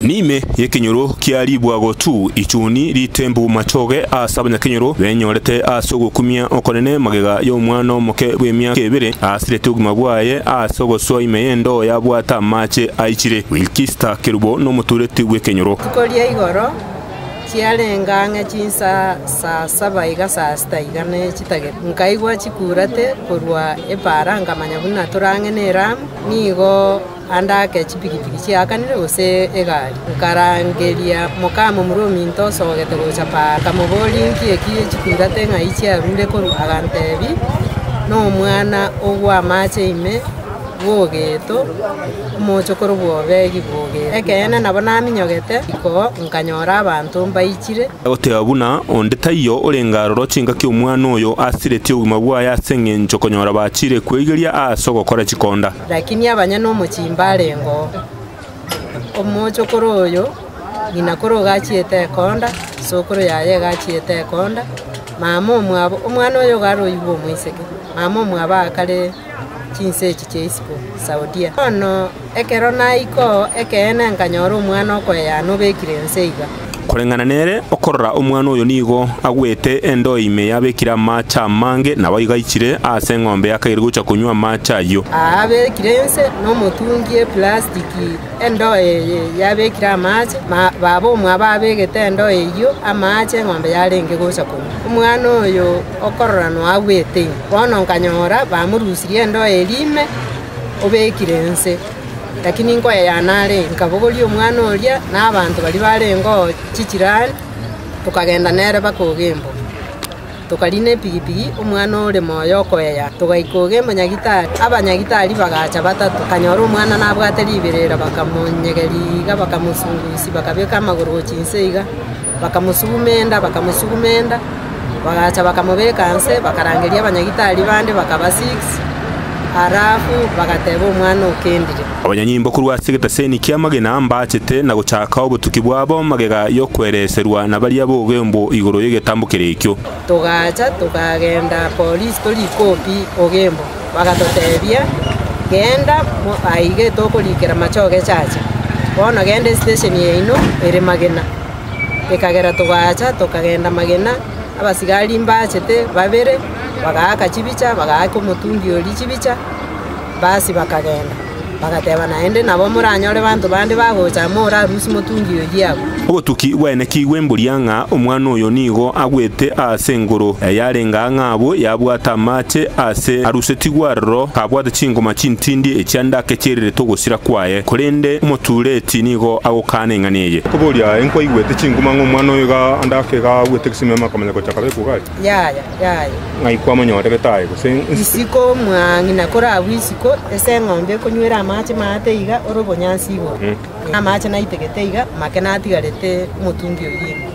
Ne'ime y'ekenyoro kia ribwago tu, ichuni ritembu machoge ase abanyakenyoro benyorete ase ogokumia okonene magega y'omwana omoke bw'emiaka ebere asirete obogima bwaye ase ogosoa ime y'endoo yabwate amache aichire. Wilkista Kerubo nomotureti bw'ekenyoro. Rituko ria igoro chiarenga ang'e chinsaa saa saba iga saa sita iga ne chitagete, nkaigwa chikuurate korwa epaara nkamanya buna tore ang'e n'eramu, nigo Ande ake chipigipigi chiakanire gose egari, nkarangeria mokamomura ominto osogete gocha paa. Nkamoboria, Inki eki chikurate ng'ai chiarure korwa? Aganteebia, Nomwana o bw'amaache ime bw'ogeto, omochokoro bw'obeegi bw'ogeto. Ekeene nabo naminyogete riko, nkanyora abanto mbaichire. Agoteba buna onde taiyo orenge aroro chingaki omwana oyo asiretie obogima bwaye ase engencho konyora bachiire kweigeria aase ogokora chikonda. Lakini abanyene omochie mbarengo oo, omochokoro oyo, ng'ina kore ogachiete ekonda, isokoro yaye egachiete ekonda, mama omwabo, omwana oyo iga aroigwe omoiseke, mama omwabo aakare chinsa echi chia isiko Saudia. Bono ekero naika oo, ekeene nkanyora omwana okoyana obekire inse iga. Koreng'ana nere, okorora omwana oyo nigo agwete endoo ime yabekire amaache amange, naboigo aichire aase eng'ombe yakaire gocha konywa amaache ayio. Abekire inse nomotungi y'eplastiki endoo eye yabekire amaache, baba omwabo abegete endoo eyio amaache eng'ombe yarenge gocha konywa. Omwana oyo okorora noagwete ime. Bono nkanyora bamorusirie endoo eria ime obekire inse. Lakini nkoyayana are, nkabogoria omwana oria na abanto baria barengeo chichirani, tokagenda nere mpaka Ogembo. Tokariina epigipigi, omwana ore moyo okoyaya, togaika Ogembo nyagetari. Abanyagitari bagacha batato, bakanyora omwana nabwate riberera, bakamonyegeria iga, bakamosungusia, bakabeka amagoro gochia inse iga. Bakamosugumenta, bakamosugumenta, bagacha bakamobeka inse, bakarangeria abanyagitari bande bakaba six, ara abwo bagateba omwana o kendire. Abanyanyimbo korwa ase egetaseni ki'amagena mbaachete na gochaaka obotuki bwabo magega y'okwereserwa na baria b'ogembo igoro y'egetambo keria ekio. Togaacha tokagenda Polisi tori koo pi Ogembo, bagatotebia, Genda aige tokorikera machogo echache, bono genda esitesheni yaino ere Magina. Ekagera togaacha tokagenda Magina, abasigari mbachete babere, bagaaka chibicha, bagaaka omotungi oria chibicha. Basi bakagenda, bagateba naende, Nabo moranyore banto bande bagocha amo ore arusie motungi oyio agwo. Obotuki bwaino kigwe mbuya ng'a omwana oyo nigo agwete aase engoro yarenge aa ng'a abwo yabwate amache aase arusetigwe aroro kabwate chingoma chintindi echia ndake chirirete ogosira kwaye, korende omotuureti nigo agokaana eng'ana eye. Koboria, Enkwaigwete chinguma ng'a omwana oyo iga ndake iga agwete egesimeme akamanya gocha kabekwa igare? Ng'ai kwamonyoreirete aye, gose isiko? Isiko mwangi, na kore agwo isiko, ase eng'ombe ekonywera amache maate iga ore obonyansi igoro, na amache naitegete iga make natigarete omotungi o riina.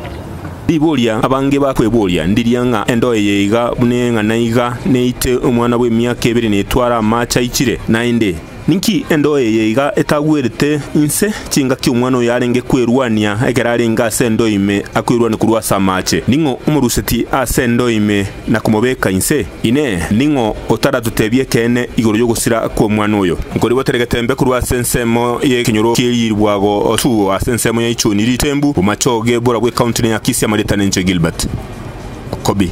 Riboria abange bakweboria ndiria ng'a endo eye iga buna eng'ana iga neite omwana bw'emiaka ebere netware amache aichire, naende Ninki endoo eye iga etagwerete inse chingaki omwana oyo arenge kwerwania ekero arenge ase endoo ime akwerwanie korwa ase amaache? Ning'o omoruseti ase endoo ime na komobeka inse? Inee! Ning'o otaratotebie ekeene igoro y'ogosira kw'omwana oyo? Nkoribotere getembe korwa ase ensemo y'ekenyoro kie riiribwago tu ase ensemo ya Ichoni Ritembu, bomachoge bora bw'Ekaunti ne Akisi amarieta nenchwe Gilbert Kobi.